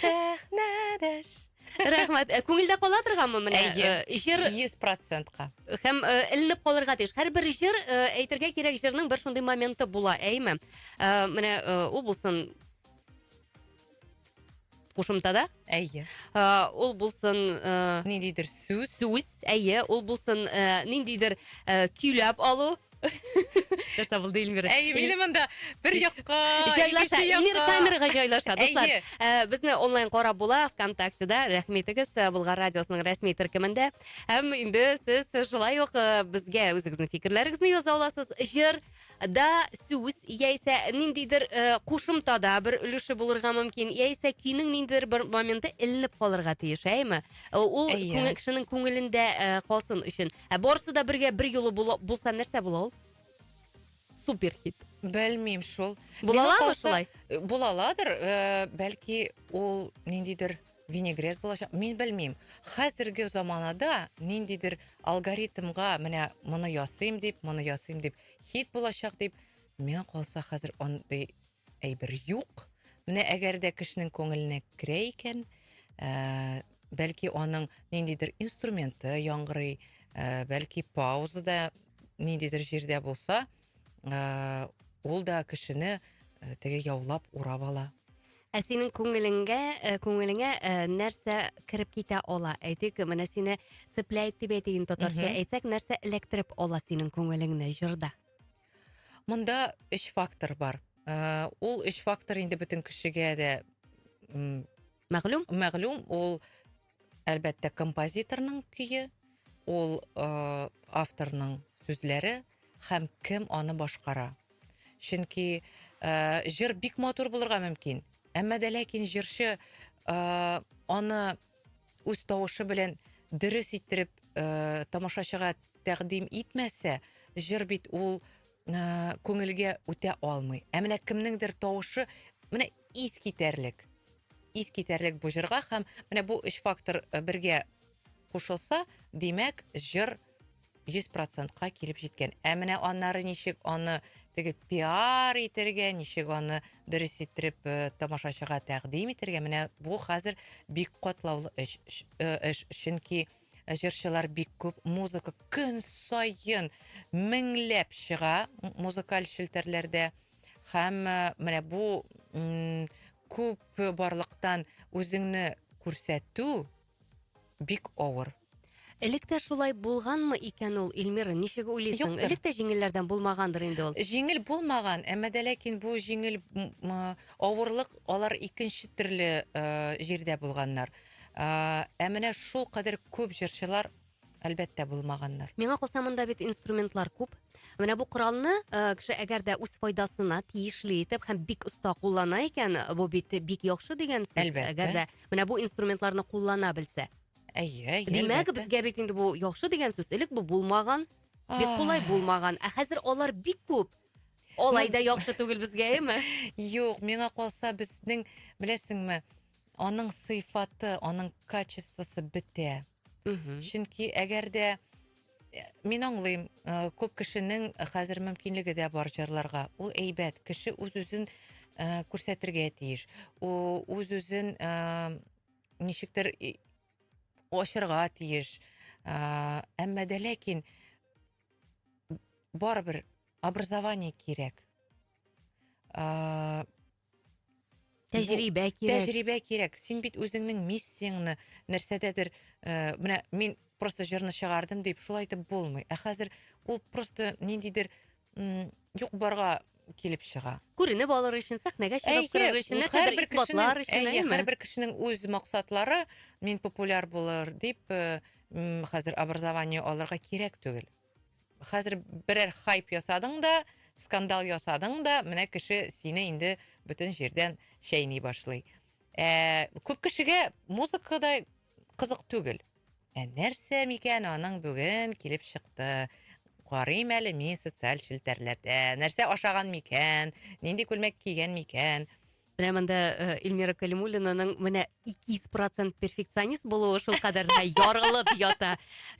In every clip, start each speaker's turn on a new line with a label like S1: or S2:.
S1: Сәхнәдәш. Рәхмәт. Ә
S2: Күңелдә кала торганмы менә? Әйе. Э, Җыр Йөз
S1: процентка. һәм э, эленеп
S2: калырга тиеш. Һәрбер җыр, э, әйтергә кирәк, җырның бер шундый моменты була, әйме? Э, Менә э, ул булсын кушымтада, Әйе. э,
S1: ул
S2: булсын э, Ниндидер
S1: сүз. сүз, әйе, ул
S2: булсын э, ниндидер э, көйләп алу, нәрсә булды эльмира әйе мине монда
S1: бер якка җайлаша эльмира
S2: камерага җайлаша дуслар э, безне онлайн карап була вконтактеда рәхмәтегез э, болгар радиосының рәсми төркемендә һәм инде сез шулай ук э, безгә үзегезнең фикерләрегезне яза аласыз җыр да сүз яисә ниндидер кушымта да бер өлеше булырга мөмкин яисә көйнең ниндидер бер моменты эленеп калырга тиеш әйме ул кешенең күңелендә калсын өчен Ә барысы да бергә бер юлы була, булса нәрсә була ул? Супер хит. Белмим шул.
S1: Була Миңа аламы калса, шулай?
S2: э, Була аладыр,
S1: э, бәлки ул ниндидер винегрет булачак. Мин белмим. Хәзерге заманада ниндидер алгоритмга менә моны ясыйм дип, моны ясыйм дип, хит булачак дип. Миңа калса хәзер андый Әйбер юк. Менә әгәр дә кешенең күңеленә керә икән, ә, бәлки аның ниндидер инструменты яңгырый, ә, бәлки паузада ниндидер җирдә булса, ә, ул да кешене ә, теге яулап урап ала. Ә синең
S2: күңелеңгә, ә, э, күңелеңә ә, э, нәрсә кереп китә ала? Әйтик, менә сине цепляет дип әйтейин татарча, әйтсәк, нәрсә эләктереп ала синең күңелеңне җырда? Монда
S1: өч фактор бар. Э, ул өч фактор инде бөтен кешегә дә мәгълүм. Мәгълүм ул әлбәттә композиторның көе, ул э, авторның сүзләре һәм кем аны башкара. Чөнки э, җыр бик матур булырга мөмкин, әмма дә ләкин җырчы аны үз тавышы белән дөрес иттереп э, тамашачыга тәкъдим итмәсә, җыр бит ул э, күңелгә үтә алмый. Ә менә кемнеңдер тавышы менә ис китәрлек. Ис китәрлек бу җырга һәм менә бу өч фактор э, бергә кушылса, димәк, җыр 100 процентка килеп җиткән. Ә менә аннары ничек аны теге пиар итәргә, ничек аны дөрес иттереп э, тамашачыга тәкъдим итәргә, менә бу хәзер бик катлаулы эш. Э, эш чөнки җырчылар бик күп, музыка көн саен меңләп чыга музыкаль челтәрләрдә. Һәм э, менә бу күп барлыктан үзеңне күрсәтү Бик авыр. Элек тә
S2: шулай булганмы икән ул, Эльмира, ничек уйлыйсың? Юктыр. Элек тә җиңелләрдән булмагандыр инде ул. Җиңел булмаган,
S1: әмма дә ләкин бу җиңел м, м, авырлык алар икенче төрле э, җирдә булганнар. Э, Ә менә шулкадәр күп җырчылар Әлбәттә, булмаганнар. Миңа калса, монда бит
S2: инструментлар күп. Менә бу коралны э, кеше әгәр дә үз файдасына тиешле итеп һәм бик оста куллана икән, бу бит бик яхшы дигән сүз. Әлбәттә. Әгәр дә менә бу инструментларны куллана белсә. Әйе, әйе. Димәк,
S1: әлбәттә. безгә бит
S2: инде бу
S1: яхшы
S2: дигән сүз. Элек бу булмаган, бик Ай. кулай булмаган. Ә хәзер алар бик күп. Алай да яхшы түгел безгә, әйеме? Юк, миңа
S1: калса безнең, беләсеңме, аның сыйфаты, аның качествосы бетә. Мгм. Чөнки әгәр дә э, мин аңлыйм, э, күп кешенең хәзер мөмкинлеге дә бар җырларга. Ул әйбәт, кеше үз-үзен э, күрсәтергә тиеш. У- Үз-үзен э, ничектер и- ачырга тиеш. Э, Әмма дә ләкин барыбер образование кирәк. Э,
S2: Тәҗрибә кирәк. Тәҗрибә кирәк. Син бит
S1: үзеңнең миссияңне нәрсәдәдер, э, менә мин просто җырны чыгардым дип шул әйтеп булмый. Ә хәзер ул просто ниндидер м, юк барга килеп чыга. Күренеп алыр өчен,
S2: сәхнәгә чыгып Әйе, керер өчен, нәрсәдер һәрбер кешенең, исбатлар өчен, әйе, әйеме? һәрбер кешенең үз
S1: максатлары, мин популяр булыр дип, э, м, хәзер образование алырга кирәк түгел. Хәзер берәр хайп ясадың да, скандал ясадың да, менә кеше сине инде бөтен җирдән чәйни башлый. Ә, күп кешегә музыка да кызык түгел. Ә нәрсә микән аның бүген килеп чыкты? Карыйм әле мин социаль челтәрләрдә. Нәрсә ашаган микән? Нинди күлмәк кигән микән? Менә монда
S2: э, Эльмира Калимуллинаның менә 200% перфекционист булуы шул кадәр дә ярылып ята.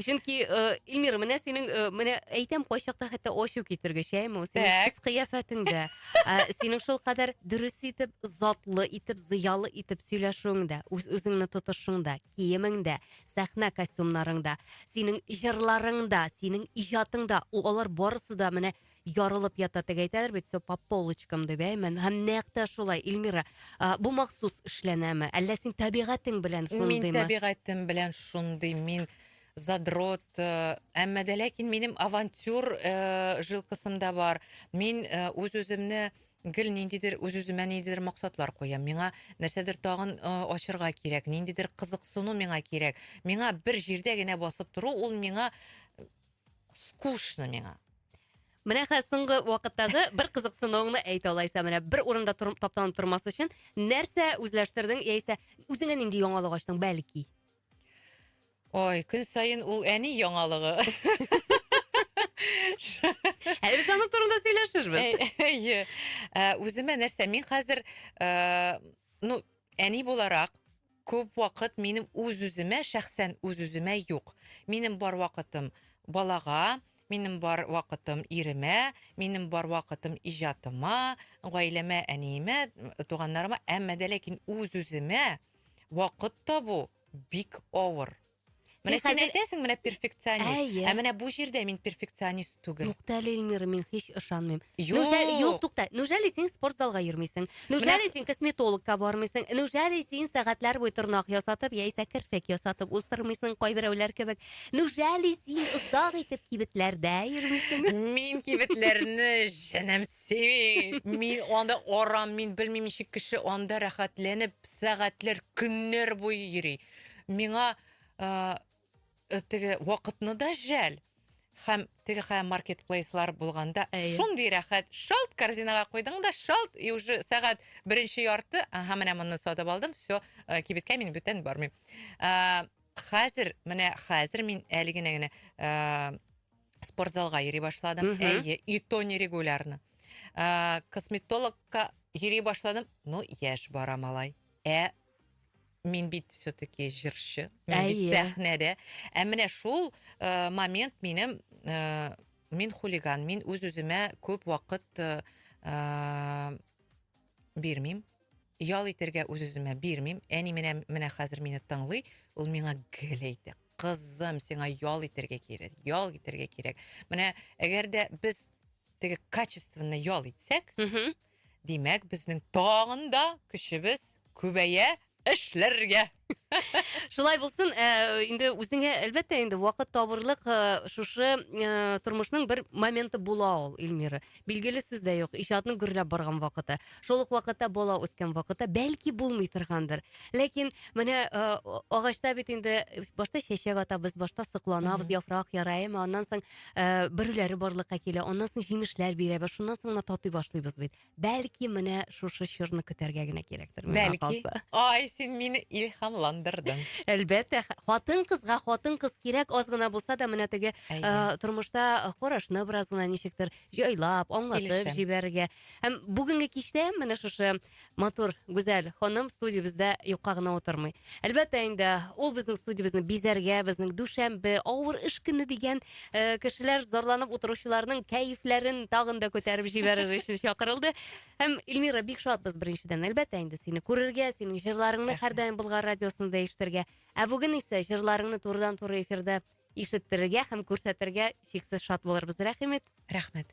S2: Чөнки э, Эльмира, менә синең э, менә әйтәм кайчакта хәтта ачу китергеч, әйме, синең Так. кыз кыяфәтеңдә, ә, синең шул кадәр дөрес итеп, затлы итеп, зыялы итеп сөйләшүеңдә, үз үзеңне тотышыңда, киемеңдә, сәхнә костюмнарыңда, синең җырларыңда, синең иҗатыңда, у- алар барысы да менә ярылып ята теге әйтәләр бит все по полочкам дип әй мен һәм нәкъ тә шулай Ильмира а, бу махсус эшләнәме әллә син табигатең белән шундыймы мин табигатем белән
S1: шундый мин задрот э, әмма дә ләкин минем авантюр э, жилкысымда бар мин э, үз үземне гел ниндидер үз үземә ниндидер максатлар куям миңа нәрсәдер тагын э, ачырга кирәк ниндидер кызыксыну миңа кирәк миңа бер җирдә генә басып тору ул миңа Скучно миңа. Менә хәзер
S2: соңгы вакыттагы бер кызыксынуыңны әйт алайса, менә бер урында тор, таптанып тормас өчен нәрсә үзләштердең яисә үзеңә нинди яңалык ачтың, бәлки?
S1: Ой, көн саен ул әни яңалыгы.
S2: Әле без аның турында сөйләшербез. Әйе. Ә, Үземә
S1: нәрсә? Мин хәзер, ә, ну, әни буларак, Күп вакыт минем үз-үземә, шәхсән үз-үземә юк. Минем бар вакытым балага, минем бар вакытым иремә, минем бар вакытым иҗатыма, гаиләмә, әниемә, туганнарыма, әмма дә ләкин үз-үземә вакыт табу бик авыр. Менә Син син хәзер- әйтәсең, менә перфекционист. Әйе. Ә менә бу җирдә мин перфекционист түгел. Юкта әле, Эльмира, мин
S2: һич ышанмыйм. Юк. Неужели- Юк,
S1: тукта. Неужели
S2: син спортзалга йөрмисең? Неужели Менә- син косметологка бармыйсың? Неужели син сәгатьләр буе тырнак ясатып, яисә керфек ясатып уздырмыйсың, кайберәүләр кебек? Неужели син озак итеп кибетләрдә йөрмисең? Мин кибетләрне
S1: җенем сөйми. Мин анда арам, мин белмим ничек кеше анда рәхәтләнеп сәгатьләр, көннәр буе йөри. миңа э, э, теге вакытны да жәл һәм теге хәм маркетплейслар булганда Әйе. шундый рәхәт шалт корзинага куйдың да шалт и уже сәгать беренче ярты ага менә моны сатып алдым все э, кибеткә мин бүтән бармыйм Э, хәзер менә хәзер мин әле генә генә э, спортзалга йөри башладым Мгм. әйе и то нерегулярно Э, косметологка йөри башладым ну яшь бара малай ә Мин бит все-таки җырчы, мин Әйе. бит сәхнәдә. Ә менә шул э, момент минем э, мин хулиган, мин үз-үземә күп вакыт э, э, бирмим. Ял итәргә үз-үземә бирмим. Әни менә менә хәзер мине тыңлый, ул миңа гел әйтә. Кызым, сиңа ял итәргә кирәк, ял итәргә кирәк. Менә әгәр дә без теге качественно ял итсәк, Мгм. Димәк, безнең тагын да көчебез күбәя эшләргә.
S2: Шулай булсын, ә, инде үзеңә әлбәттә инде вакыт табырлык ә, шушы ә, тормышның бер моменты була ул, Эльмира. Билгеле сүз дә юк, иҗатның гөрләп барган вакыты. Шул ук вакытта бала үскән вакыты, бәлки булмый торгандыр. Ләкин менә э, агачта бит инде башта чәчәк атабыз, башта сокланабыз, яфрак яра, әмма аннан соң э, бөреләре барлыкка килә, аннан соң җимешләр бирәбез, шуннан соң гына татый башлыйбыз бит. Бәлки менә шушы чорны көтәргә генә кирәктер миңа Бәлки. калса.
S1: Ай, син мине илһамландырдың. Әлбәттә,
S2: хатын кызга хатын кыз кирәк аз гына булса да менә теге Әйе. э, тормышта карашны бераз гына ничектер җайлап, аңлатып Килешәм. җибәрергә. Һәм бүгенге кичтә менә шушы Матур, гүзәл ханым студиябездә юкка гына утырмый. Әлбәттә инде, ул безнең студиябезне бизәргә, безнең дүшәмбе, авыр эш көне дигән э, кешеләр зарланып утыручыларның кәефләрен тагын да күтәреп җибәрер өчен чакырылды. Һәм Эльмира, бик шатбыз беренчедән, әлбәттә инде сине күрергә, синең җырларыңны һәрдаим Болгар радиосында ишетергә. Ә бүген исә җырларыңны турыдан-туры эфирда ишеттерергә һәм күрсәтергә чиксез шат булырбыз. Рәхим ит. Рәхмәт.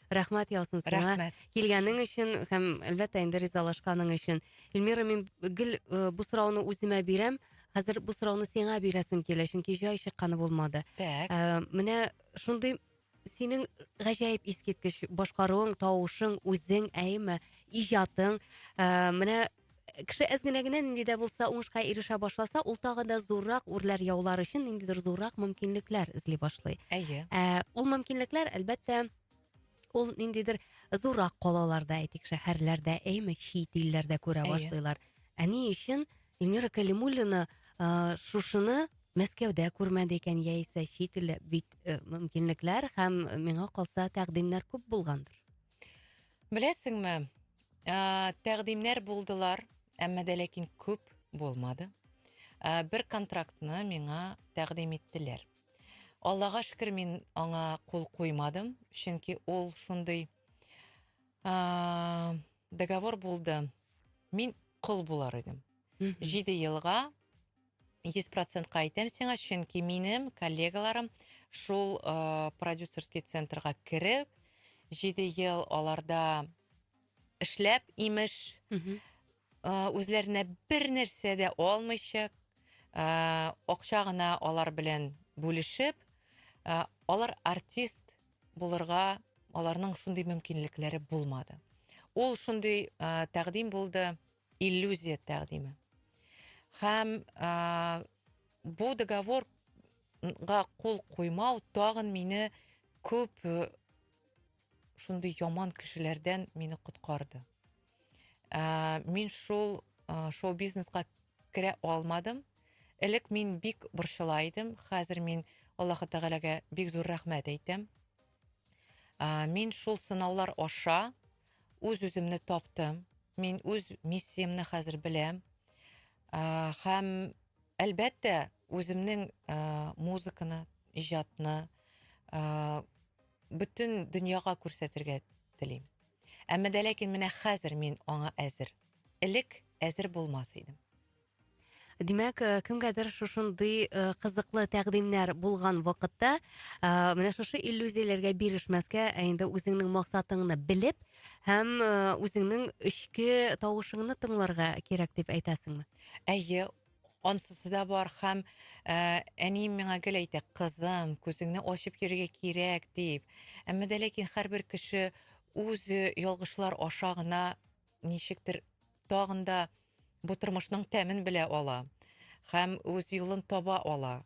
S2: Рәхмәт яусын сиңа. Рәхмәт. Килгәнең
S1: өчен
S2: һәм әлбәттә инде ризалашканың өчен. Эльмира, мин гел э, бу сорауны үземә бирәм. Хәзер бу сорауны сиңа бирәсем килә, чөнки җай чыкканы булмады. Так. Э, менә шундый синең гаҗәеп искиткеч башкаруың, тавышың, үзең, әйеме, иҗатың. Э, менә кеше әз генә генә нинди дә булса уңышка ирешә башласа, ул тагы да зуррак үрләр яулар өчен ниндидер зуррак мөмкинлекләр эзли башлый. Әйе. Ә, ул
S1: мөмкинлекләр,
S2: әлбәттә, ул ниндидер зуррак калаларда, әйтик, шәһәрләрдә, әйме, чит илләрдә күрә Әйе. башлыйлар. Ә ни өчен Эльмира Калимуллина а, шушыны Мәскәүдә күрмәде икән, яисә чит илдә бит э, мөмкинлекләр һәм миңа калса тәкъдимнәр күп булгандыр.
S1: Беләсеңме, тәкъдимнәр булдылар, әмма дә ләкин күп булмады. Бер контрактны миңа тәкъдим иттеләр. Аллага шөкер, мин аңа кул куймадым, чөнки ул шундый договор булды. Мин кол булар идем. 7 елга Йөз процентка әйтәм сиңа, чөнки минем коллегаларым шул э, продюсерский центрга кереп, җиде ел аларда эшләп, имеш, э, үзләренә бер нәрсә дә алмыйча, э, акча гына алар белән бүлешеп, э, алар артист булырга аларның шундый мөмкинлекләре булмады. Ул шундый э, тәкъдим булды, иллюзия тәкъдиме. Һәм бу договорга кул куймау тагын мине күп шундый яман кешеләрдән мине коткарды. Мин шул шоу-бизнеска керә алмадым. Элек мин бик борчыла идем, хәзер мин Аллаһы Тәгаләгә бик зур рәхмәт әйтәм. Ә, мин шул сынаулар аша үз-үземне таптым. Мин үз миссиямне хәзер беләм. Ә, һәм әлбәттә, үземнең ә, музыканы, иҗатны ә, бөтен дөньяга күрсәтергә телим. Әмма дә ләкин менә хәзер мин аңа әзер. Элек әзер булмас идем.
S2: Димәк, э, кемгәдер шушындый э, кызыклы тәкъдимнәр булган вакытта, э, менә шушы иллюзияләргә бирешмәскә, ә инде үзеңнең максатыңны белеп һәм үзеңнең эчке тавышыңны тыңларга кирәк дип әйтәсеңме? Әйе,
S1: ансысы да бар һәм әнием миңа гел әйтә, кызым, күзеңне ачып йөрергә кирәк дип. Әмма дә ләкин һәрбер кеше үз ялгышлар аша гына ничектер тагын да бу тормышның тәмен белә ала һәм үз юлын таба ала.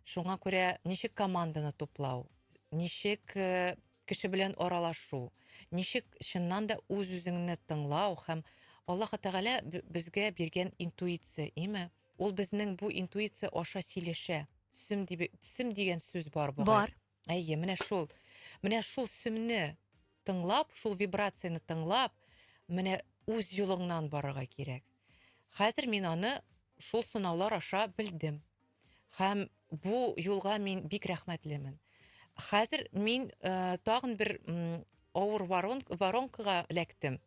S1: Шуңа күрә ничек команданы туплау, ничек э, кеше белән аралашу, ничек чыннан да үз-үзеңне тыңлау һәм Аллаһ Тәгалә безгә биргән интуиция, име? Ул безнең бу интуиция аша сөйләшә. Төсем, дигән сүз бар бугай. Бар. Әйе, менә
S2: шул.
S1: Менә шул сөмне тыңлап, шул вибрацияне тыңлап, менә үз юлыңнан барырга кирәк. Хәзер мин аны шул сынаулар аша белдем. Һәм бу юлга мин бик рәхмәтлемен. Хәзер мин э, тагын бер м, авыр воронкага эләктем.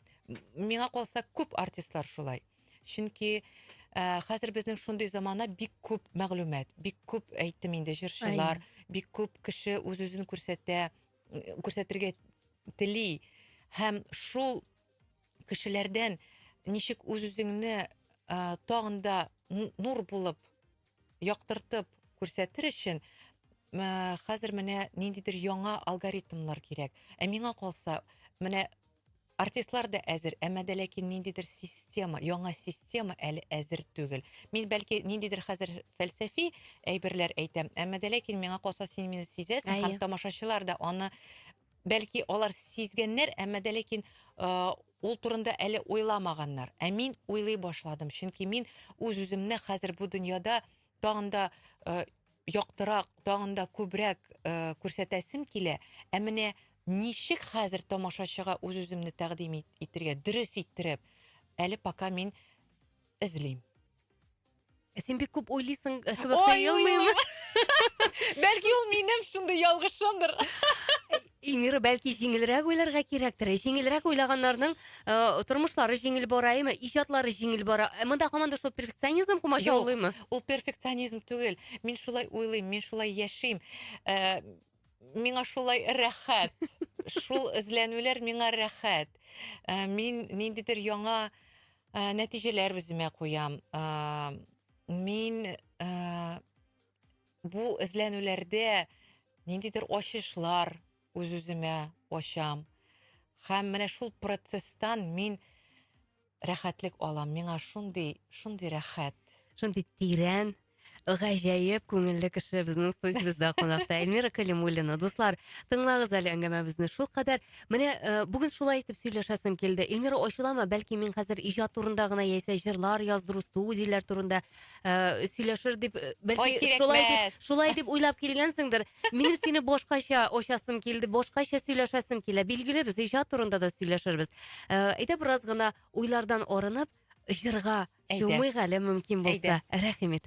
S1: Миңа калса күп артистлар шулай. Чөнки э, хәзер безнең шундый замана бик күп мәгълүмат, бик күп әйтем инде җырчылар, бик күп кеше үз-үзен күрсәтә, күрсәтергә тели һәм шул кешеләрдән ничек үз-үзеңне э, тагын да нур булып яктыртып күрсәтер өчен мә, хәзер менә ниндидер яңа алгоритмнар кирәк. Ә миңа калса, менә артистлар да әзер, әмма дә ләкин ниндидер система, яңа система әле әзер түгел. Мин бәлки ниндидер хәзер фәлсәфи әйберләр әйтәм, әмма дә ләкин миңа калса син мине сизәсең Әйе. һәм тамашачылар да аны Бәлки алар сизгәннәр, әмма дә ләкин ул турында әле уйламаганнар. Ә мин уйлый башладым, чөнки мин үз-үземне хәзер бу дөньяда тагын да яктырак, тагын да күбрәк күрсәтәсем килә. Ә менә ничек хәзер тамашачыга үз-үземне тәкъдим итергә, дөрес иттереп, әле пока мин эзлим.
S2: Син бик күп уйлыйсың э, кебек Ой, тоелмыйм.
S1: Бәлки ул минем шундый ялгышымдыр.
S2: Эльмира, бәлки җиңелрәк уйларга кирәктер. Җиңелрәк уйлаганнарның э, тормышлары җиңел бара, әйме, иҗатлары җиңел бара. Ә Монда һаман да шул перфекционизм комачаулыймы? Ул перфекционизм
S1: түгел. Мин шулай уйлыйм, мин шулай яшим. Э, миңа шулай рәхәт. Шул эзләнүләр миңа рәхәт. Э, мин ниндидер яңа э, нәтиҗәләр үземә куям. Э, мин бу эзләнүләрдә ниндидер ачышлар үз-үземә ачам. Һәм менә шул процесстан мин Рәхәтлек алам, миңа шундый, шундый рәхәт. Шундый
S2: тирән, гаҗәеп күңелле кеше безнең студиябездә кунакта Эльмира Калимуллина. Дуслар, тыңлагыз әле әңгәмәбезне шулкадәр. Менә э, бүген шулай итеп сөйләшәсем килде. Эльмира, ачуланма, бәлки мин хәзер иҗат турында гына яисә җырлар яздыру, студияләр турында э, сөйләшер дип, э, Ой, бәлки кирәкмәс. шулай дип, шулай дип уйлап килгәнсеңдер. Минем сине башкача очасым килде, башкача сөйләшәсем килә. Билгеле, без иҗат турында да сөйләшербез. Э, Әйдә бераз гына уйлардан арынып, җырга Әйдә. чумыйк әле мөмкин булса. Әйдә. Рәхим ит.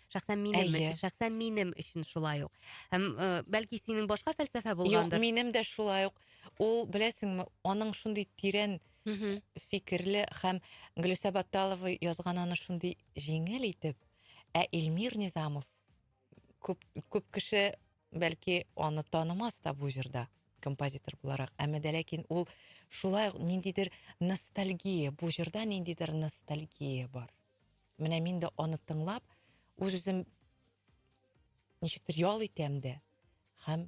S2: Шәхсән минем, Әйе. шәхсән минем өчен шулай ук. Һәм э, бәлки синең башка фәлсәфә Юк, булгандыр. минем дә
S1: шулай
S2: ук.
S1: Ул, беләсеңме, аның шундый тирән Мгм. фикерле һәм Гөлүсә Батталова язган аны шундый җиңел итеп, ә Илмир Низамов күп, күп кеше бәлки аны танымас та бу җырда композитор буларак. Әмма дә ләкин ул шулай ук ниндидер ностальгия, бу җырда ниндидер ностальгия бар. Менә мин дә аны тыңлап, үз-үзем ничектер ял итәм дә һәм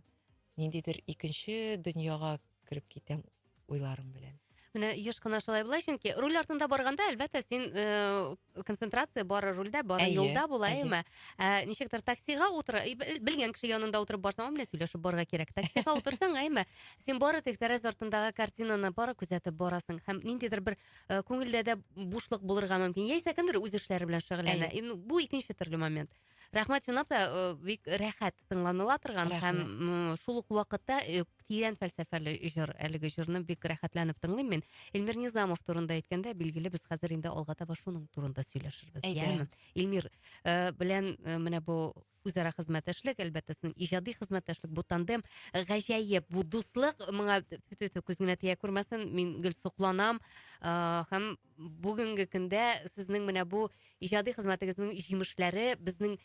S1: ниндидер икенче дөньяга кереп китәм уйларым белән. Менә еш кына
S2: шулай була, чөнки руль артында барганда, әлбәттә, син э, концентрация бары рульдә, бары Әйе, юлда була, әйе. әйме? Ә, ничектер таксига утыра, и, бел- белгән кеше янында утырып барсаң, менә сөйләшеп барырга кирәк. Таксига утырсаң, әйме, син бары тик тәрәз артындагы картинаны бары күзәтеп барасың һәм ниндидер бер э, күңелдә дә бушлык булырга мөмкин яисә кемдер үз эшләре белән шөгыльләнә Әйе. ну, бу икенче төрле момент рәхмәт чынлап та э, бик рәхәт тыңланыла торган Рәхмәт. һәм м, шул ук вакытта э, тирән фәлсәфәле җыр әлеге җырны бик рәхәтләнеп тыңлыйм мин эльмир низамов турында әйткәндә билгеле без хәзер инде алга таба шуның турында сөйләшербез Әйдә. яме эльмир э, белән э, менә бу үзара хезмәттәшлек, әлбәттә, син иҗади хезмәттәшлек, бу тандем гаҗәеп, бу дуслык моңа тфү-тфү-тфү, күз генә тия күрмәсен, мин гел сокланам, а, һәм бүгенге көндә сезнең менә бу иҗади хезмәтегезнең җимешләре безнең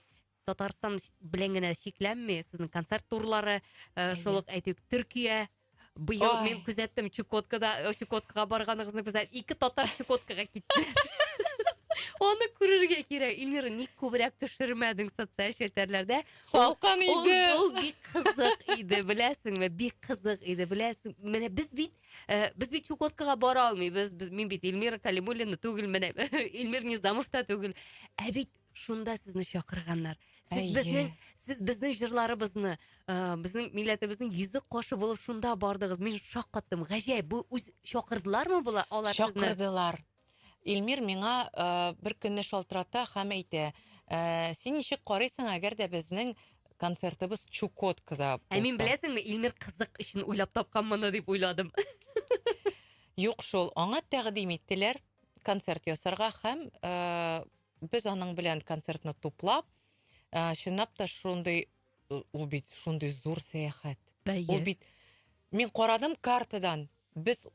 S2: Татарстан белән генә чикләнми, сезнең концерт турлары, э, шул ук әйтик, Төркия, Быел Ой. мин күзәттем Чукоткада, э, Чукоткага барганыгызны күзәт. Ике татар Чукоткага китте. Аны күрергә кирәк. Ильмира, ник күбрәк төшермәдең социаль челтәрләрдә? Салкан Ул, иде.
S1: ул бик кызык
S2: иде, беләсеңме? Бик кызык иде, беләсең. Менә без бит, э, без бит Чукоткага бара алмыйбыз. Без, мин бит Ильмира Калимуллина түгел, менә Ильмир Низамов та түгел. Ә бит Шунда сезне чакырганнар. Сез Әйе. безнең сез безнең җырларыбызны, э, безнең милләтебезнең йөзек кашы булып шунда бардыгыз. Мин шаккаттым. Гаҗәеп, бу үз чакырдылармы була алар сезне? Чакырдылар.
S1: Илмир миңа э, бер көнне шалтырата һәм әйтә, э, син ничек карыйсың, әгәр дә безнең концертыбыз Чукоткада булса? Ә мин беләсеңме, Илмир
S2: кызык өчен уйлап тапкан моны дип уйладым.
S1: Юк шул, аңа тәкъдим иттеләр концерт ясарга һәм э, Без аның белән концертны туплап, ә, чынлап та шундый, э, ул бит шундый зур сәяхәт. Әйе. Ул бит мин карадым картадан. Без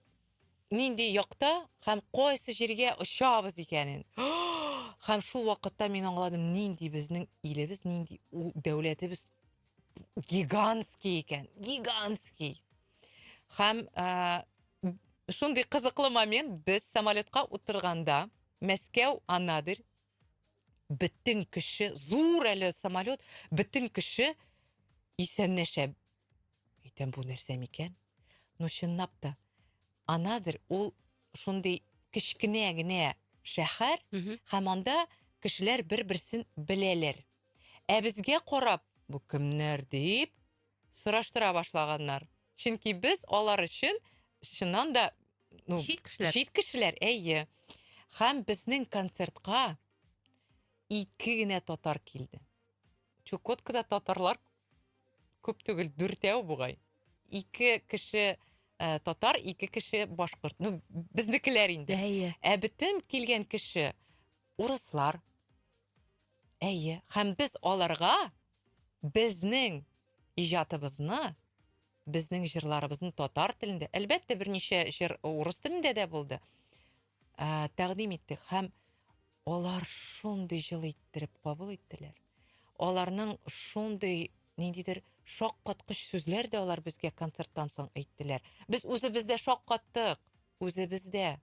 S1: нинди якта һәм кайсы җиргә очабыз икәнен. Һәм шул вакытта мин аңладым, нинди безнең илебез, нинди ул дәүләтебез гигантский икән. Гигантский. Һәм ә, шундый кызыклы момент без самолетка утырганда Мәскәү Анадырь бөтен кеше зур әле самолет бөтен кеше исәннәшә. Әйтәм бу нәрсә микән? Ну чынлап та Анадырь ул шундый кечкенә генә шәһәр һәм анда кешеләр бер-берсен беләләр. Ә безгә карап бу кемнәр дип сораштыра башлаганнар. Чөнки без алар өчен чыннан да ну, чит кешеләр. Чит кешеләр, әйе. Һәм безнең концертка ике генә татар килде. Чукоткада татарлар күп түгел, дүртәү бугай. Ике кеше ә, татар, ике кеше башкорт. Ну, безнекеләр инде. Әйе. Ә бөтен килгән кеше урыслар. Әйе. Һәм без аларга Безнең иҗатыбызны, безнең җырларыбызны татар телендә, әлбәттә, берничә җыр урыс телендә дә булды, ә, тәкъдим иттек һәм алар шундый җылы иттереп кабул иттеләр. Аларның шундый ниндидер шаккаткыч сүзләр дә алар безгә концерттан соң әйттеләр. Без үзебез дә шаккаттык, үзебез дә.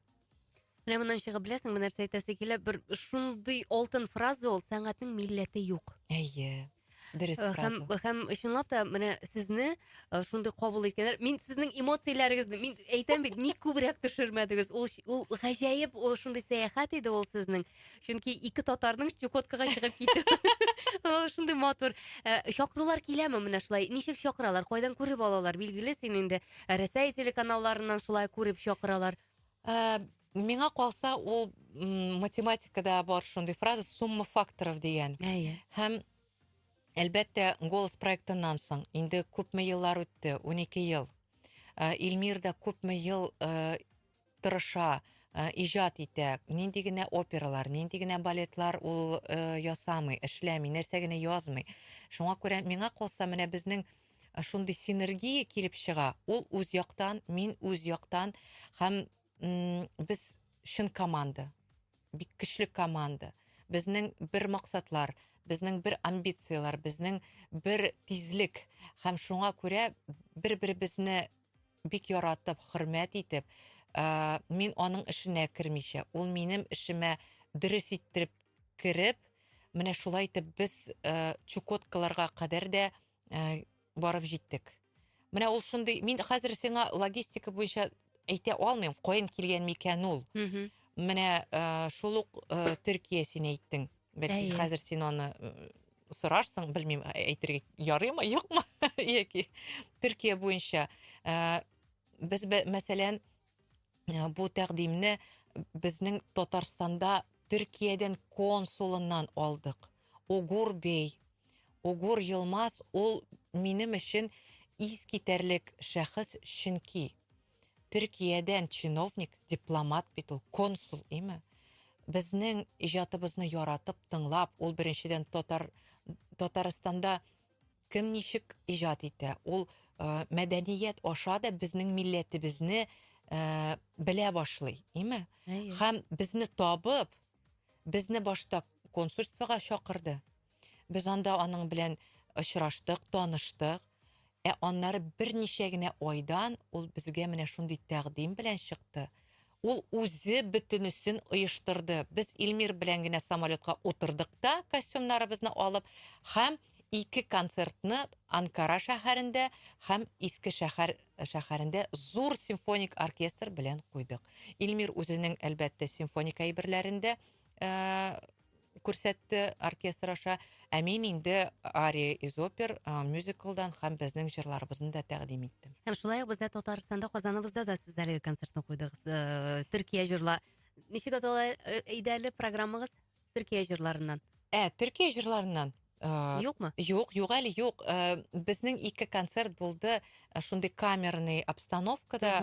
S1: Менә
S2: моннан чыгып беләсең, менә нәрсә әйтәсе килә. Бер шундый алтын фраза ул, сәнгатьнең милләте юк. Әйе. Дөрес
S1: э, фраза. Һәм, һәм чынлап та
S2: менә сезне э, шундый кабул иткәннәр. Мин сезнең эмоцияләрегезне, мин әйтәм бит, ник күбрәк төшермәдегез? Ул ул гаҗәеп, ул шундый сәяхәт иде ул сезнең. Чөнки ике татарның Чукоткага чыгып китү. Шундый матур. Э, чакырулар киләме менә шулай? Ничек чакыралар? Кайдан күреп алалар? Билгеле син инде Рәсәй телеканалларыннан шулай күреп чакыралар. Ә,
S1: миңа калса, ул м, математикада бар шундый фраза сумма факторов дигән. Әйе. Һәм әлбәттә, голос проектыннан соң инде күпме еллар үтте, 12 ел. Ә, Илмир да күпме ел ә, тырыша, ә, иҗат итә. Нинди генә опералар, нинди генә балетлар ул ә, ясамый, эшләми, нәрсә генә язмый. Шуңа күрә миңа калса, менә безнең шундый синергия килеп чыга. Ул үз яктан, мин үз яктан һәм без чын команда. Бик көчле команда. Безнең бер максатлар, безнең бер амбицияләр, безнең бер тизлек һәм шуңа күрә бер-беребезне бик яратып, хөрмәт итеп, мин аның эшенә кермичә, ул минем эшемә дөрес иттереп кереп, менә шулай итеп без Чукоткаларга кадәр дә ә, барып җиттек. Менә ул шундый, мин хәзер сиңа логистика буенча әйтә алмыйм, каян килгән микән ул. Менә ә, шул ук ә, Төркия син әйттең. Бәлки Әйе. хәзер син аны э, сорарсың, белмим, ә- әйтергә ярыймы, юкмы, яки Төркия буенча. Ә, без бә- мәсәлән, Э, бу тәкъдимне безнең Татарстанда Төркиядән консулыннан алдык. Угур бей, Угур Елмаз ул минем өчен искитәрлек шәхес, чөнки Төркиядән чиновник, дипломат бит ул, консул, име? Безнең иҗатыбызны яратып, тыңлап, ул беренчедән татар Татарстанда Кем ничек иҗат итә, ул мәдәният аша да безнең милләтебезне белә башлый, име? Хәм безне табып, безне башта консульствога чакырды. Без анда аның белән очраштык, таныштык. Ә аннары берничә генә айдан ул безгә менә шундый тәкъдим белән чыкты. Ул үзе бөтенесен оештырды. Без Илмир белән генә самолетка утырдык та, костюмнарыбызны алып, һәм ике концертны Анкара шәһәрендә һәм Иске шәһәр шәһәрендә зур симфоник оркестр белән куйдык. Илмир үзенең, әлбәттә, симфоник әйберләрен дә күрсәтте оркестр аша. Ә мин инде ария из опер, мюзиклдан һәм безнең җырларыбызны да тәкъдим иттем. Һәм шулай ук бездә Татарстанда
S2: Казаныбызда да сез әлеге концертны куйдыгыз. Э, Төркия җырла. Ничек атала э, иде әле программагыз? Төркия җырларыннан. Ә, Төркия
S1: җырларыннан. Э, Юкмы?
S2: Юк, юк әле
S1: юк. Э, безнең ике концерт булды э, шундый камерный обстановкада,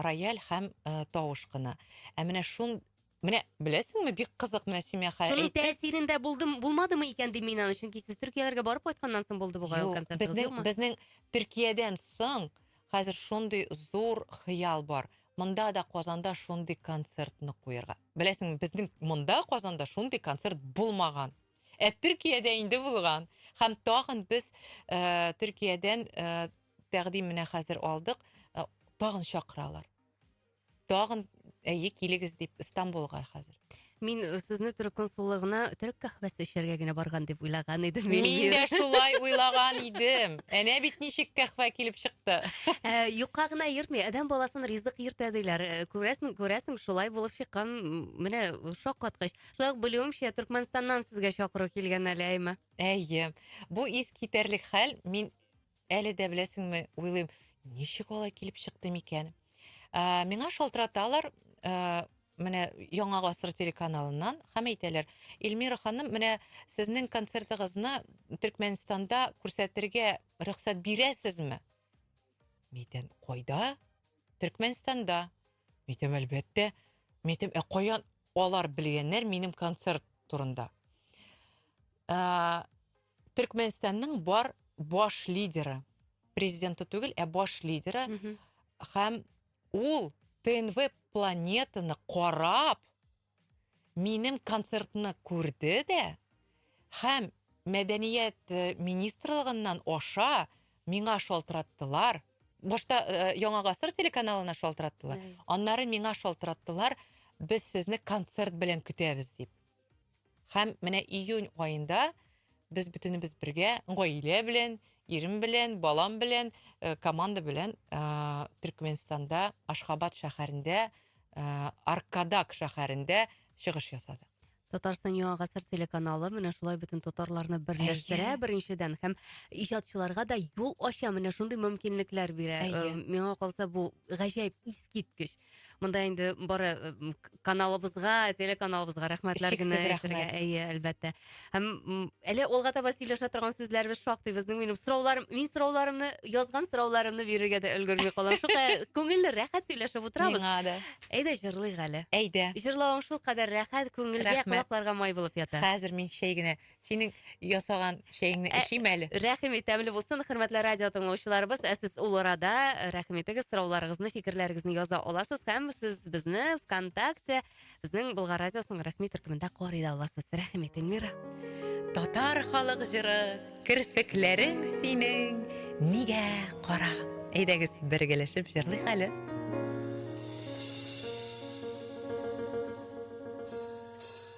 S1: рояль һәм тавыш кына. Ә менә шун Менә беләсеңме, бик кызык менә Симия хәя Шуның әйтте. тәэсирендә булдым,
S2: булмадымы икән дим мин аны, чөнки сез Төркияләргә барып кайтканнан соң булды бугай ул Юк, концерт, безнең юкмы? безнең
S1: Төркиядән соң хәзер шундый зур хыял бар. Монда да Казанда шундый концертны куярга. Беләсеңме, безнең монда Казанда шундый концерт булмаган. Ә Төркиядә инде булган. Һәм тагын без э, Төркиядән э, тәкъдим менә хәзер алдык, э, тагын чакыралар. Тагын әйе килегез дип Стамбулга хәзер. Мин э, сезне
S2: төрек консуллыгына төрек кахвәсе эчәргә генә барган дип уйлаган идем. Мин Эльвира. дә шулай
S1: уйлаган идем. Әнә бит ничек кәхвә килеп чыкты. Ә, Юкка гына
S2: йөртми, адәм баласын ризык йөртә диләр. Ә, Күрәсең, күрәсең, шулай булып чыккан. М, Менә шаккаткыч. Шулай ук белүемчә, Төркмәнстаннан сезгә чакыру килгән әле, әйме? Әйе.
S1: Бу ис китәрлек хәл. Мин Әле дә беләсеңме, уйлыйм, ничек алай килеп чыкты микән? Ә, миңа шалтыраталар, ә, менә Яңа гасыр телеканалыннан һәм әйтәләр, Эльмира ханым, менә сезнең концертыгызны Төркмәнстанда күрсәтергә рөхсәт бирәсезме? Митәм, кайда? Төркмәнстанда. Митәм, әлбәттә. Митәм, ә каян алар белгәннәр минем концерт турында? Ә, Төркмәнстанның бар баш лидеры, президенты түгел, ә баш лидеры, һәм ул ТНВ планетаны карап, минем концертны күрде дә, һәм мәдәният э, министрлыгыннан аша миңа шалтыраттылар. Башта э, Яңа гасыр телеканалына шалтыраттылар. Аннары миңа шалтыраттылар, без сезне концерт белән көтәбез дип. Һәм менә июнь аенда без бөтенебез бергә, гаилә белән, ирем белән, балам белән, э, команда белән э, Төркменстанда, Ашхабад шәһәрендә, э, Аркадак шәһәрендә чыгыш ясадык. Татарстан Яңа
S2: гасыр телеканалы менә шулай бөтен татарларны берләштерә Әйе. беренчедән һәм иҗатчыларга да юл ача, менә шундый мөмкинлекләр бирә. Әйе. Э, Миңа калса бу гаҗәеп искиткеч. Монда инде бары э, каналыбызга, телеканалыбызга рәхмәтләр генә әйтергә, әйе, әлбәттә. Һәм әле алга таба сөйләшә торган сүзләребез шактый безнең. Минем сорауларым, мин сорауларымны, язган сорауларымны бирергә дә өлгерми калам. Шулай күңелле, рәхәт сөйләшеп утырабыз. Миңа да. Әйдә
S1: җырлыйк әле.
S2: Әйдә. Җырлавың
S1: шул кадәр
S2: рәхәт, күңелгә, колакларга май булып ята. Хәзер мин чәй генә
S1: Синең ясаган чәеңне Ә- эчим әле. Рәхим ит, тәмле булсын.
S2: Хөрмәтле радио тыңлаучыларыбыз, ә сез ул арада э, рәхим итегез, сорауларыгызны, фикерләрегезне яза аласыз һәм сез безне ВКонтакте, безнең Болгар радиосының рәсми төркемендә карый да аласыз. Рәхим ит, Эльмира. Татар
S1: халык җыры, керфекләрең синең нигә кара? Әйдәгез, бергәләшеп җырлыйк әле.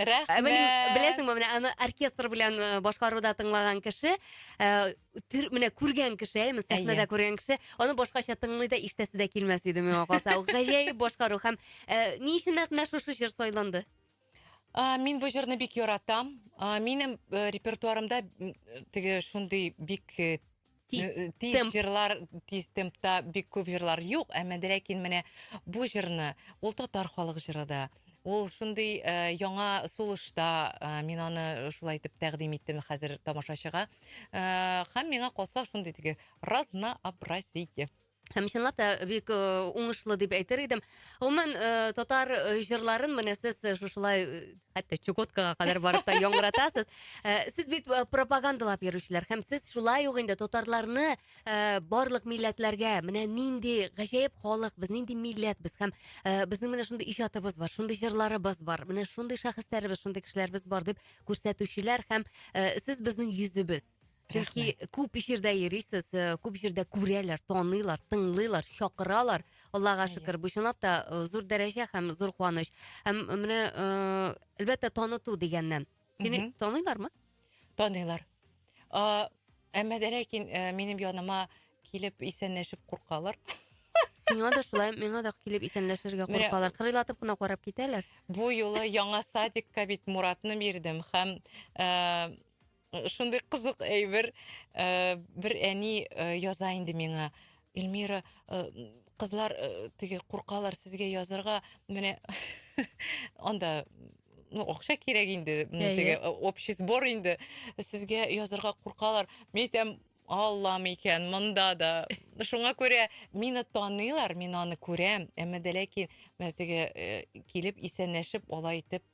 S2: Ә менә Рәхмәт.
S1: беләсеңме, менә аны
S2: оркестр белән э, башкаруда тыңлаган кеше, э, төр- менә күргән кеше, әйме, сәхнәдә Әйе. күргән кеше, аны башкача тыңлый да иштәсе дә килмәс иде миңа калса. Ул гаҗәеп башкару һәм э, ни өчен нәкъ менә шушы җыр сайланды? А, мин
S1: бу җырны бик яратам. А, минем э, репертуарымда м, э, теге шундый бик э, тиз э, э, тиз темп. җырлар тиз темпта бик күп җырлар юк әмма ләкин менә бу җырны ул татар халык җыры да ул шундый э, яңа сулышта э, мин аны шулай итеп тәкъдим иттем хәзер тамашачыга э, һәм миңа калса шундый теге разнообразие Һәм чынлап
S2: та бик э, уңышлы дип әйтер идем. Гомумән, э, татар э, җырларын менә сез э, шушылай э, хәтта Чукоткага кадәр барып та яңгыратасыз. Э, Сез бит э, пропагандалап йөрүчеләр һәм сез шулай ук инде татарларны э, барлык милләтләргә менә нинди гаҗәеп халык, без нинди милләт без һәм э, безнең менә шундый иҗатыбыз бар, шундый җырларыбыз бар, менә шундый шәхесләребез, шундый кешеләребез бар дип күрсәтүчеләр һәм э, сез безнең йөзебез. Чөнки күп җирдә йөрисез, э, күп җирдә күрәләр, таныйлар, тыңлыйлар, чакыралар. Аллага Әйе. шөкер, бу чынлап та э, зур дәрәҗә һәм зур куаныч. Һәм менә, э, әлбәттә, таныту дигәннән. Сине Мгм. таныйлармы? Таныйлар.
S1: А, Әмма дә ләкин э, минем яныма килеп исәнләшеп куркалар. Сиңа
S2: да шулай, миңа да килеп исәнләшергә Менә- куркалар. Кырыйлатып кына карап китәләр. Бу юлы яңа
S1: садикка бит Муратны бирдем һәм э, Э, шундый кызык әйбер э, бер әни э, яза инде миңа эльмира кызлар теге куркалар сезгә язырга менә анда ну акча кирәк инде теге общий сбор инде сезгә язырга куркалар мен әйтәм аллам икән монда да шуңа күрә мине таныйлар мин аны күрәм әмма дә ләкин теге килеп исәнләшеп алай итеп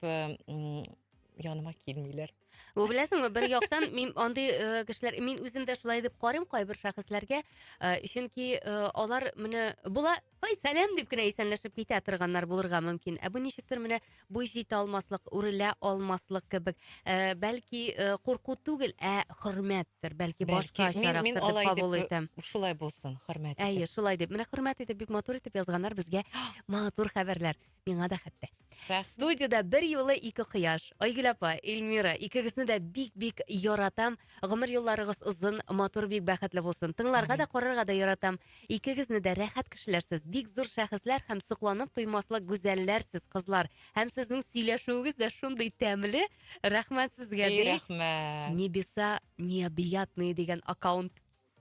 S1: яныма килмиләр Бу беләсеңме,
S2: бер яктан мин андый э, кешеләр, мин үзем дә шулай дип карыйм кайбер шәхесләргә, э, чөнки э, алар менә була, ой, сәлам дип кенә исәнләшеп китә торганнар булырга мөмкин. Ә бу ничектер менә буй җитә алмаслык, үрелә алмаслык кебек. Э, бәлки э, курку түгел, ә хөрмәттер, бәлки башка Бәлки, мин, чарактыр мин дип алай кабул дип, итәм. э, шулай булсын,
S1: хөрмәт Әйе, итеп. шулай дип. Менә
S2: хөрмәт итеп бик матур итеп язганнар безгә матур хәбәрләр. миңа да хәтта. Рәхмәт. Студиядә бер юлы ике кояш. Айгөл апа, Эльмира, икегезне дә бик-бик яратам. Гомер юлларыгыз озын, матур, бик бәхетле булсын. Тыңларга да, карарга да яратам. Икегезне дә рәхәт кешеләр сез. Бик зур шәхесләр һәм сокланып туймаслык гүзәлләр сез, кызлар. Һәм сезнең сөйләшүегез дә шундый тәмле. Рәхмәт сезгә, Эй, ди. рәхмәт.
S1: Небеса
S2: необъятные дигән аккаунт.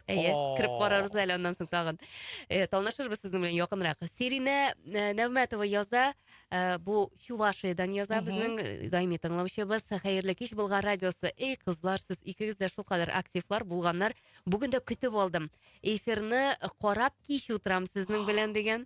S2: Әйе, кереп карарбыз әле аннан соң тагын. Э, Танышырбыз сезнең белән якынрак. Сиринә э, Нәүмәтова яза, э, бу Чувашиядән яза безнең э, даими тыңлаучыбыз. Хәерле кич Болгар радиосы. Эй, кызлар, сез икегез дә шулкадәр активлар булганнар. Бүген дә көтеп алдым. Эфирны карап кич утырам сезнең белән дигән.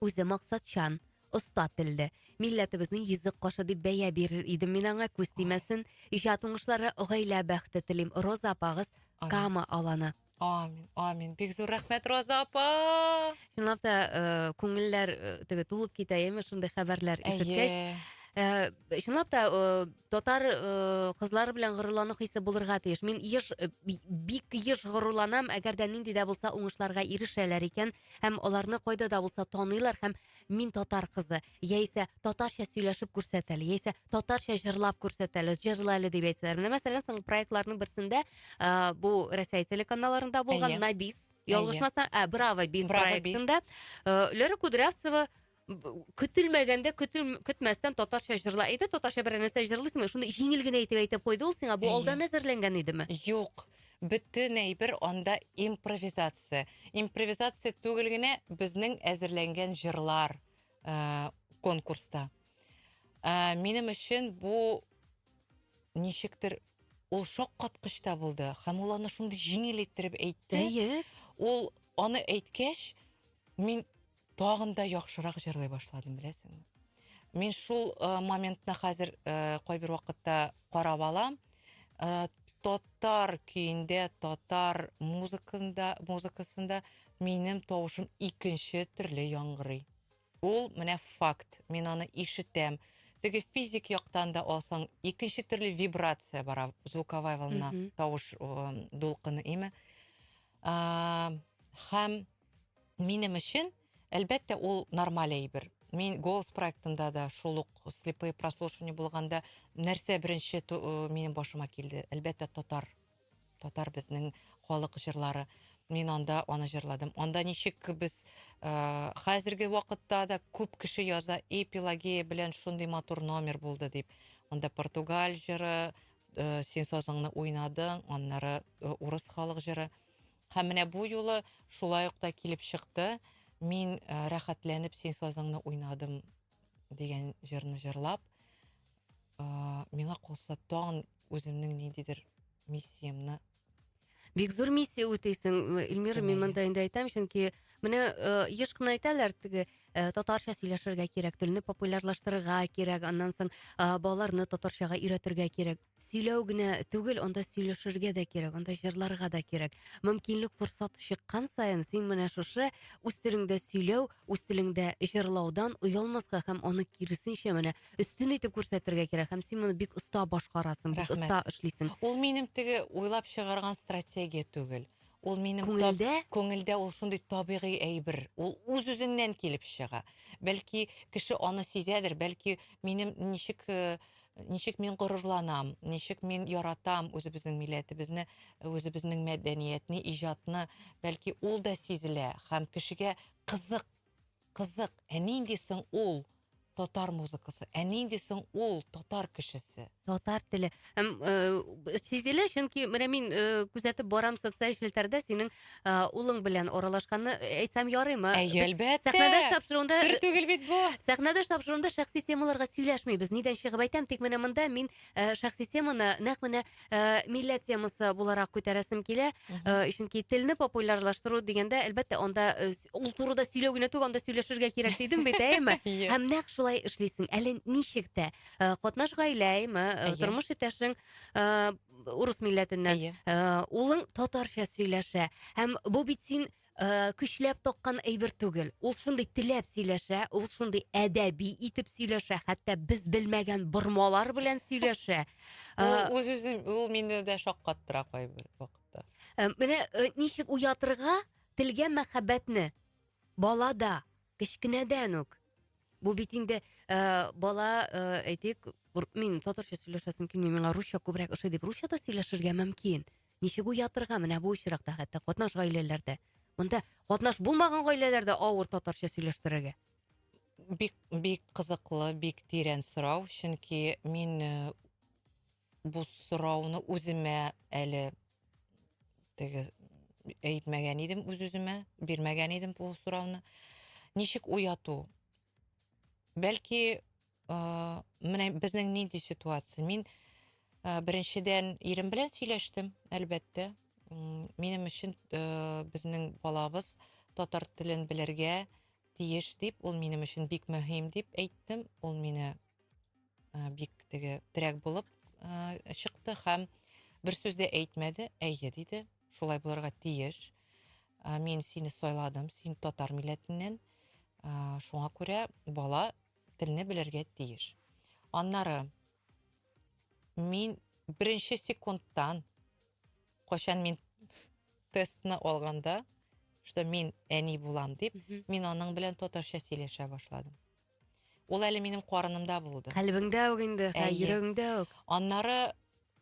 S2: Үзе максатчан, оста телле, милләтебезнең йөзек кашы дип бәя бирер идем мин аңа, күз тимәсен. Иҗат уңышлары, гаилә бәхете телим. Роза апагыз Кама аланы. Амин, амин.
S1: Бик зур рәхмәт, Роза апа! Чынлап та,
S2: э, күңелләр э, теге тулып китә, яме шундый хәбәрләр ишеткәч. Әйе. Э, чынлап та э, татар э, кызлары белән горурлану хисе булырга тиеш мин еш э, би- бик еш горурланам әгәр дә нинди дә булса уңышларга ирешәләр икән Һәм аларны кайда да булса таныйлар һәм мин татар кызы, яисә татарча сөйләшеп күрсәт әле, яисә татарча җырлап күрсәт әле, җырла әле дип әйтсәләр. Менә мәсәлән, соңгы проектларның берсендә ә, бу Рәсәй телеканалларында булган Әйе. Набис, ялгышмасам, ә, Браво Бис Браво Бис. проектында э, Лера Кудрявцева көтелмәгәндә көтел көтмәстән татарча җырла әйдә татарча берәр нәрсә җырлыйсыңмы шуны җиңел генә итеп әйтеп куйды ул сиңа бу алдан әзерләнгән идеме юк
S1: бөтен әйбер анда импровизация импровизация түгел генә безнең әзерләнгән җырлар ә, конкурста ә, минем өчен бу ничектер ул шаккаткыч та булды һәм ул аны шундый җиңел иттереп әйтте ул аны әйткәч мин Тагын да яхшырак җырлый башладым, беләсеңме? Мин шул э, моментны хәзер э, кайбер вакытта карап алам. Э, татар көендә, татар музыкында, музыкасында минем тавышым икенче төрле яңгырый. Ул менә факт. Мин аны ишетәм. Теге физик яктан да алсаң, икенче төрле вибрация бара звуковая волна, Мгм. тавыш э, дулкыны име. А, һәм Минем өчен, әлбәттә, ул нормаль әйбер. Мин голос проектында да шул ук слепые прослушивания булганда нәрсә беренче э, минем башыма килде? Әлбәттә, татар. Татар безнең халык җырлары. Мин анда аны җырладым. Анда ничек без э, хәзерге вакытта да күп кеше яза эпилагия белән шундый матур номер булды дип. Анда португаль җыры, э, син сазыңны уйнадың, аннары э, урыс халык җыры. Һәм менә бу юлы шулай ук та килеп чыкты. Мин э, рәхәтләнеп син сазыңны уйнадым дигән җырны җырлап, э, миңа калса тагын үземнең ниндидер миссиямне
S2: бик зур миссия үтейсең эльмира мин мында инде айтам чөнки менә еш кына әйтәләр теге татарча сөйләшергә кирәк телне популярлаштырырга кирәк аннан соң балаларны татарчага өйрәтергә кирәк сөйләү генә түгел, анда сөйләшергә дә кирәк, анда җырларга да кирәк. Мөмкинлек, форсат чыккан саен, син менә шушы үз телеңдә сөйләү, үз телеңдә җырлаудан оялмаска һәм аны киресенчә менә өстен итеп күрсәтергә кирәк. Һәм син моны бик оста башкарасың, бик оста эшлисең. Ул минем теге
S1: уйлап чыгарган стратегия түгел. Ул минем күңелдә, күңелдә ул шундый табигый әйбер. Ул үз-үзеннән килеп чыга. Бәлки кеше аны сизәдер, бәлки минем ничек э, Ничек мин горурланам, ничек мин яратам үзебезнең милләтебезне, үзебезнең мәдәниятне, иҗатны. Бәлки ул да сизелә һәм кешегә кызык, кызык, ә нинди соң ул татар музыкасы, ә нинди соң ул татар кешесе? Татар теле.
S2: Һәм э, сизелә, чөнки менә мин э, күзәтеп барам социаль челтәрдә синең Ә, улың белән аралашканны э, әйтсәм ярыймы? Әйе, Без әлбәттә. Сәхнәдәш
S1: тапшыруында Сер
S2: түгел бит бу.
S1: Сәхнәдәш тапшыруында
S2: шәхси темаларга сөйләшмибез. Нидән чыгып әйтәм, тик менә монда мин э, шәхси теманы нәкъ менә э, милләт темасы буларак күтәрәсем килә. Э, чөнки телне популярлаштыру дигәндә, әлбәттә, анда э, с- ул турыда сөйләү генә түгел, анда сөйләшергә кирәк дидем бит, әйеме? Әйе. Һәм нәкъ шулай эшлисең. Әле ничек тә э, катнаш гаиләме, э, Әйе. тормыш иптәшең э, урыс милләтеннән. Әйе. Э, улың татарча сөйләшә. Һәм бу бит син э, көчләп таккан әйбер түгел. Ул шундый теләп сөйләшә, ул шундый әдәби итеп сөйләшә, хәтта без белмәгән бормалар белән сөйләшә. Э, Ул үз үзен
S1: ул мине дә шаккаттыра кайбер вакытта. Э, Менә э,
S2: ничек уятырга телгә мәхәббәтне балада. Кечкенәдән үк. Бу бит инде ә, бала ә, әйтик, мин татарча сөйләшәсем килми, миңа русча күбрәк ошый дип, русча да сөйләшергә мөмкин. Ничек уятырга менә бу очракта хәтта катнаш гаиләләрдә. Монда катнаш булмаган гаиләләрдә авыр татарча сөйләштерергә. Бик
S1: бик кызыклы, бик тирән сорау, чөнки мин э, Бу сорауны үземә әле теге әйтмәгән идем үз-үземә, бирмәгән идем бу сорауны. Ничек уяту? Бәлки, э, менә безнең нинди ситуация? Мин э, беренчедән ирем белән сөйләштем, әлбәттә. Минем өчен э, безнең балабыз татар телен белергә тиеш дип, ул минем өчен бик мөһим дип әйттем. Ул мине бик теге терәк булып чыкты һәм бер сүз дә әйтмәде әйе диде шулай булырга тиеш мин сине сайладым син татар милләтеннән шуңа күрә бала телне белергә тиеш аннары мин беренче секундтан кайчан мин тестны алганда что мин әни булам дип мин аның белән татарча сөйләшә башладым Ул әле минем карынымда булды. Калбиңдә үк инде, Әйе.
S2: йөрәгеңдә үк. Аннары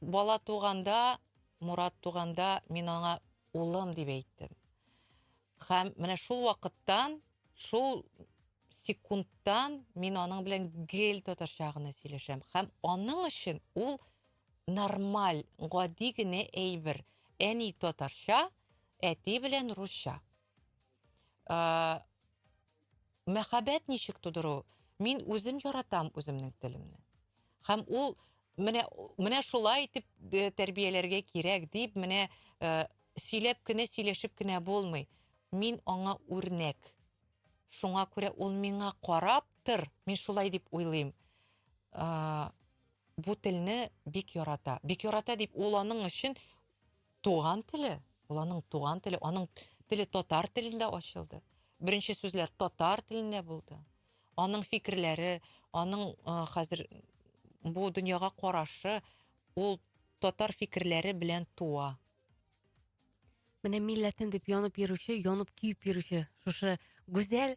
S1: бала туганда, Мурат туганда мин аңа улым дип әйттем. Һәм менә шул вакыттан, шул секундтан мин аның белән гел татарча гына сөйләшәм. Һәм аның өчен ул нормаль, гади генә әйбер. Әни татарча, әти белән русча. Ә, мәхәббәт ничек тудыру? Мин үзем яратам үземнең телемне. Һәм ул менә менә шулай итеп э, тәрбияләргә кирәк дип менә э, сөйләп кенә сөйләшеп кенә булмый. Мин аңа үрнәк. Шуңа күрә ул миңа карап тыр. Мин шулай дип уйлыйм. Ә, бу телне бик ярата. Бик ярата дип ул аның өчен Туган теле, ул аның туган теле, аның теле татар телендә ачылды. Беренче сүзләр татар телендә булды. Аның фикерләре, аның хәзер бу дөньяга карашы, ул татар фикерләре белән туа.
S2: Менә милләтем дип янып йөрүче, янып көеп йөрүче шушы гүзәл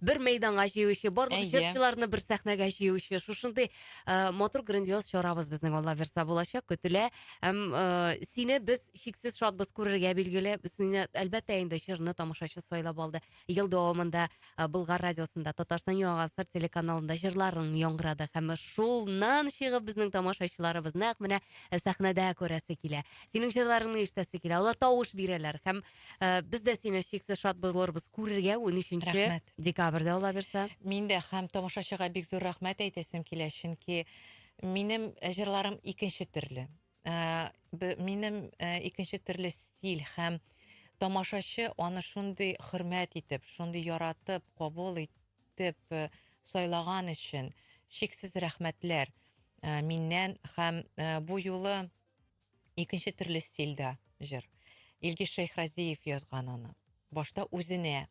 S2: Бер мәйданга җыючы, барлык Әйе. җырчыларны бер сәхнәгә җыючы, шушындый э, матур грандиоз чарабыз безнең Алла бирса булачак, көтелә. Һәм э, сине без чиксез шатбыз күрергә билгеле. Сине әлбәттә инде җырны тамашачы сайлап алды. Ел дәвамында э, Болгар радиосында, Татарстан Яңа Гасыр телеканалында җырларың яңгырады һәм шулнан чыгып безнең тамашачыларыбыз нәкъ менә э, сәхнәдә күрәсе килә. Синең җырларыңны ишетәсе килә. Алар тавыш бирәләр һәм Э, Без дә сине чиксез шат булырбыз күрергә 13 Рәхмәт. декабрьдә ала бирсә. Мин дә һәм
S1: тамашачыга бик зур рәхмәт әйтәсем килә, чөнки минем э, җырларым икенче төрле. Э, б- Минем э, икенче төрле стиль һәм тамашачы аны шундый хөрмәт итеп, шундый яратып, кабул итеп э, сайлаган өчен чиксез рәхмәтләр э, миннән һәм э, бу юлы Икенче төрле стильдә җыр. Илгиз Шәйхразиев язган аны. Башта үзенә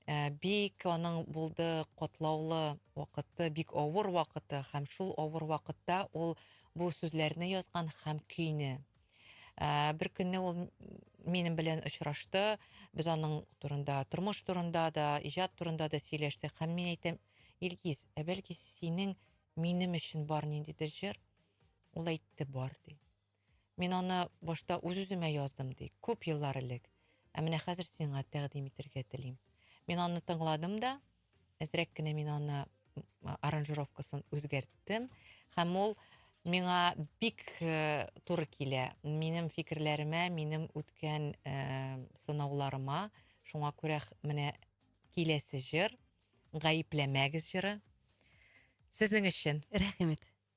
S1: э, бик аның булды котлаулы вакыты, бик авыр вакыты һәм шул авыр вакытта ул бу сүзләрне язган һәм көйне. Э, бер көнне ул минем белән очрашты. Без аның турында, тормыш турында да, иҗат турында да сөйләштек һәм мин әйтәм, Илгиз, ә бәлки синең минем өчен бар ниндидер җыр? Ул әйтте, бар, ди. Мин аны башта үз-үземә яздым, ди, күп еллар элек. Ә менә хәзер сиңа тәкъдим итәргә телим. Мин аны тыңладым да, әзрәк кенә мин аны аранжировкасын үзгәрттем. Һәм ул миңа бик э, туры килә. Минем фикерләремә, минем үткән э, сынауларыма. Шуңа күрә менә киләсе җыр, гаепләмәгез җыры. Сезнең өчен. Рәхмәт.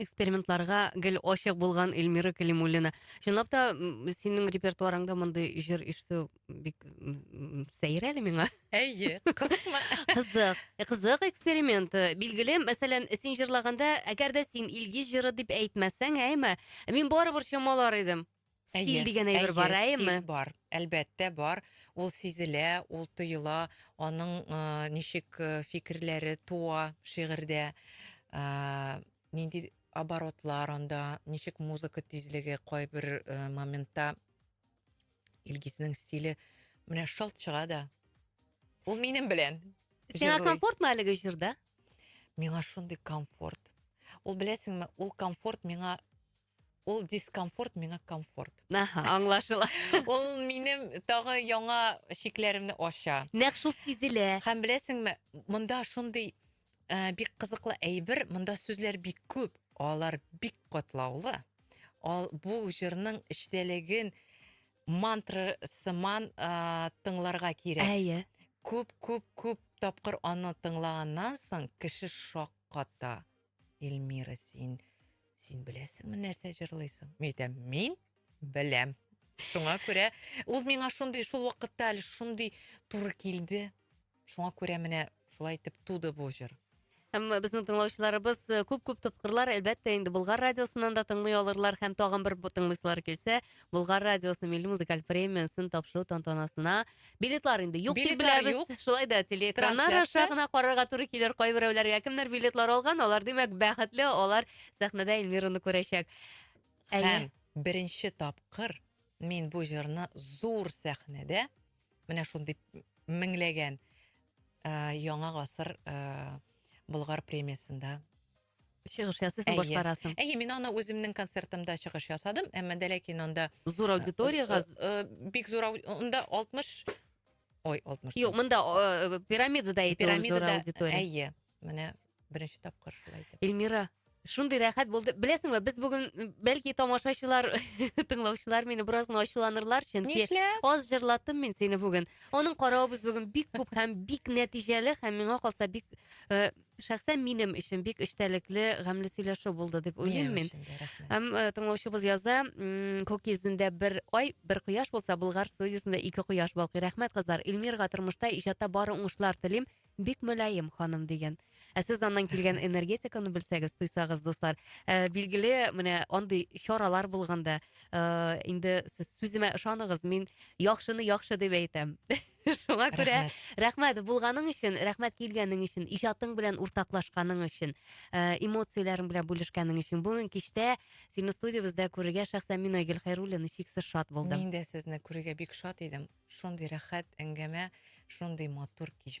S2: экспериментларга гел ачык булган Эльмира Калимуллина. Чынлап та синең репертуарыңда мондый җыр ишетү бик сәер әле миңа. Әйе, кызыкма.
S1: Кызык. Э, кызык
S2: эксперимент. Э, билгеле, мәсәлән, син җырлаганда, әгәр дә син Илгиз җыры дип әйтмәсәң, әйме, мин барыбер чамалар идем. Стиль дигән әйбер бар, әйе, әйеме? стиль бар. Әлбәттә,
S1: бар. Ул сизелә, ул тоела, аның э, ничек э, фикерләре туа шигырьдә, э, нинди оборотлар анда, ничек музыка тизлеге кайбер э, моментта Илгизнең стиле менә шалт чыга да. Ул минем белән. Сиңа җырлый. комфортмы
S2: әлеге җырда? Миңа
S1: шундый комфорт. Ул беләсеңме, ул комфорт миңа Ул дискомфорт миңа комфорт. Аха, аңлашыла.
S2: Ул минем
S1: тагы яңа шикләремне ача. Нәкъ шул сизелә.
S2: Һәм беләсеңме,
S1: монда шундый э, бик кызыклы әйбер, монда сүзләр бик күп, алар бик катлаулы. Ал, бу җырның эчтәлеген мантра сыман э, тыңларга кирәк. Әйе. Күп,
S2: күп, күп
S1: тапкыр аны тыңлаганнан соң кеше шакката. Эльмира, син син беләсеңме нәрсә җырлыйсың? Мин әйтәм, мин беләм. Шуңа күрә ул миңа шундый шул вакытта әле шундый туры килде. Шуңа күрә менә шулай итеп туды бу җыр. Һәм безнең
S2: тыңлаучыларыбыз э, күп-күп топкырлар, әлбәттә, инде Болгар радиосыннан да тыңлый алырлар һәм тагын бер бу тыңлыйсылар килсә, Болгар радиосы милли музыкаль премиясын тапшыру тантанасына билетлар инде юк дип Билетлар беләбез. юк. Шулай да телеэкраннар аша Трансляция. гына карарга туры килер кайберәүләргә. Кемнәр билетлар алган, алар димәк бәхетле, алар сәхнәдә Эльмираны күрәчәк. Әйе. Һәм
S1: беренче тапкыр мин бу җырны зур сәхнәдә, менә шундый меңләгән э, яңа гасыр э, Болгар премиясендә чыгыш
S2: ясыйсың, башкарасың. Әйе, мин аны үземнең
S1: концертымда чыгыш ясадым, әмма дә ләкин анда зур аудиториягә
S2: бик зур
S1: анда 60 Ой,
S2: 60. Юк, монда пирамидада әйтә зур аудитория. Әйе, менә
S1: беренче тапкыр шулай итеп. Эльмира, шундый
S2: рәхәт булды. Беләсеңме, без бүген бәлки тамашачылар, тыңлаучылар мине бераз ачуланырлар, чөнки аз җырлаттым мин сине бүген. Аның каравыбыз бүген бик күп һәм бик нәтиҗәле һәм миңа калса бик шәхсән минем өчен бик эчтәлекле гамьле сөйләшү булды дип уйлыйм мин һәм э, тыңлаучыбыз яза күк йөзендә бер ай бер кояш булса болгар студиясендә ике кояш балкый рәхмәт кызлар илмирга тормышта иҗатта бары уңышлар телим бик мөлаем ханым деген ә сез аннан килгән энергетиканы белсәгез тойсагыз дуслар ә, билгеле менә андый чаралар булганда ә, инде сез сүземә ышаныгыз мин яхшыны яхшы дип әйтәм Шуңа күрә рәхмәт булганың өчен, рәхмәт килгәнең өчен, иҗатың белән уртаклашканың өчен, э, эмоцияләрең белән бүлешкәнең өчен. Бүген кичтә сине студиябездә күрергә шәхсән мин Айгөл Хәйруллина чиксез шат булдым. Мин дә сезне күрергә
S1: бик шат идем. Шундый рәхәт әңгәмә, шундый матур кич